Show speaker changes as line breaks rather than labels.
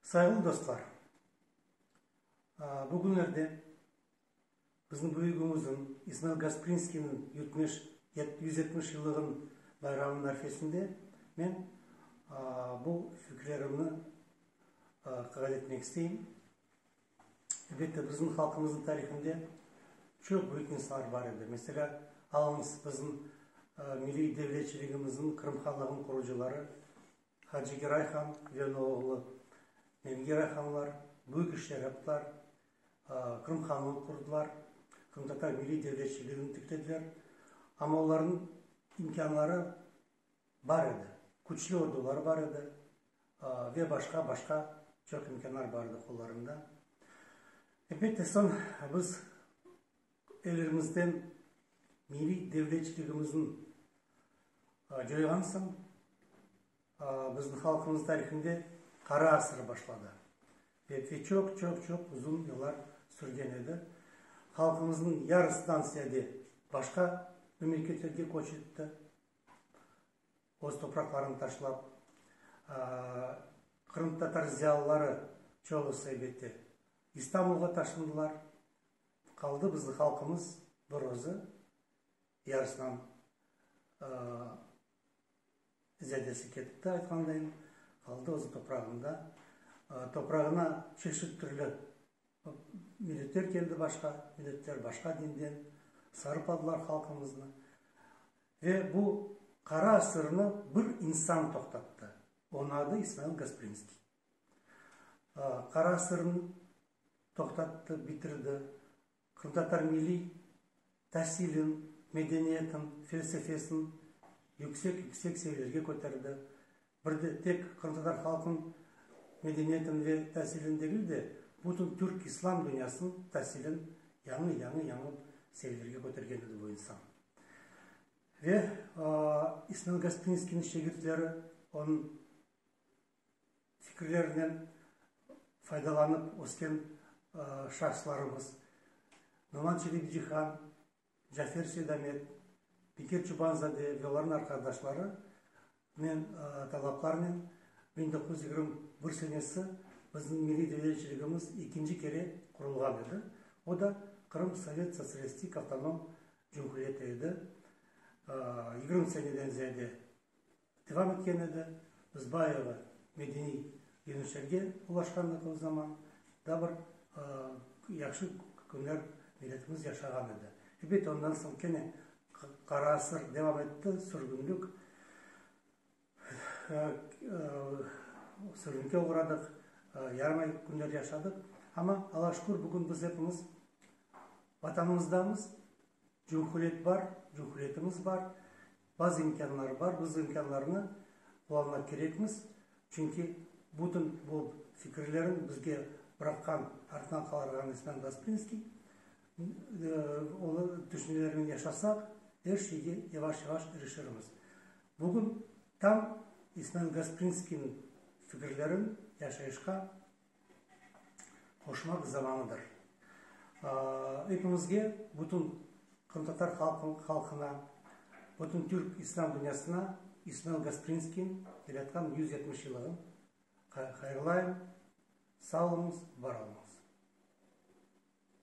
Sayğılı dostlar, bu künlerde bizim büyügimizin İsmail Gasprinskiyniñ yutmuş, yüz yetmiş yıllığın bayramınıñ arfesinde men bu fikirlerimni qayd etmek isteyim. Elbette, bizim halqımızın tarihinde çoq büyük insanlar bar edi. Mesela, alıñız bizim milliy devletçiligimizin, Qırım Hanlığınıñ qurucıları Hacigiray han ve onı oğlu Nevgiray hanlar büyük işler yaptılar, Qırım hanlığını qurdılar, qırımtatar milliy devletçiligini tiklediler. Amma olarnıñ imkânları bar edi, küçlü orduları bar edi ve başqa, başqa çoq imkânlar bar edi qollarında. Elbette, soñ biz Ellerimizden milliy devletçiligimizin coyğan soñ, bizim halqımız tarihinde qara asır başladı. Belki çoq, çoq, çoq uzun yıllar sürgen edi. Halqımızın yarısından ziyade başqa memleketlerge köç etti, öz topraqlarını taşlap. Qırımtatar ziyalıları çoğusı, elbette, İstanbulğa taşındılar. Qaldı bizni halqımız bir özü, yarısınan ziyadesi ketipti aytqandayım, qaldı özü toprağında. Toprağına çeşit türlü milletler keldi başqa, milletler başqa dinden sarıp aldılar halqımıznı. Ve bu qara asırnı bir insan toqtattı, onı adı İsmail Gasprinskiy. Qara sırnı toqtattı, bitirdi. Qırımtatar milliy tasilin, medeniyetin, felsefelsin yüksek-yüksek seviyelerge köterdi. Bir de tek qırımtatar halqın medeniyetin ve tasilin degil de, bütün türk islam dünyasın tasilin yañı, yañı, yañı seviyelerge kötergen edi bu insan. Ve İsmail Gasprinskiyniñ şegirtleri onıñ fikirlerinen faydalanıp ösken şahıslarımız, Noman Çelebicihan, Cafer Seydamet, Bekir Çobanzade ve olarnıñ arqadaşlarınen talaplarınen biñ doquz yüz yigirmi bir senesi bizim milliy devletçiligimiz ekinci kere qurulğan edi. O da Qırım Sovet Sotsialistik Avtonom Cumhuriyeti edi. Yigirmi seneden ziyade. Devam etken edi. Biz bayığı medeniy yeñişlerge ulaşqanlığımız zaman da bir yahşı künler milletimiz yaşağan edi. Elbet, ondan soñ kene qara asır devam etti, sürgünlik, sürgünge oğradıq, yaramay künler yaşadıq. Amma Allağa şükür, bugün biz hepimiz Vatanımızdamız, cumhuriyet bar, cumhuriyetimiz bar, Bazı imkânlar bar, biz imkânlarnı qullanmaq kerekmiz, çünki bütün bu fikirlerin bizge bıraqqan, arttan qalarğan İsmail Gasprinskiy, onıñ tüşünelerinen yaşasaq, er şeyge yavaş-yavaş irişirmiz. Bugün tam İsmail Gasprinskiyniñ fikirlerin yaşayışqa. qoşmaq zamanıdır. Epimizge, bütün qırımtatar halqına, bütün türk İslâm dünyasına İsmail Gasprinskiy yaratqan yüz yetmiş yıllığı hayırlayım. Sağ oluñız, var oluñız!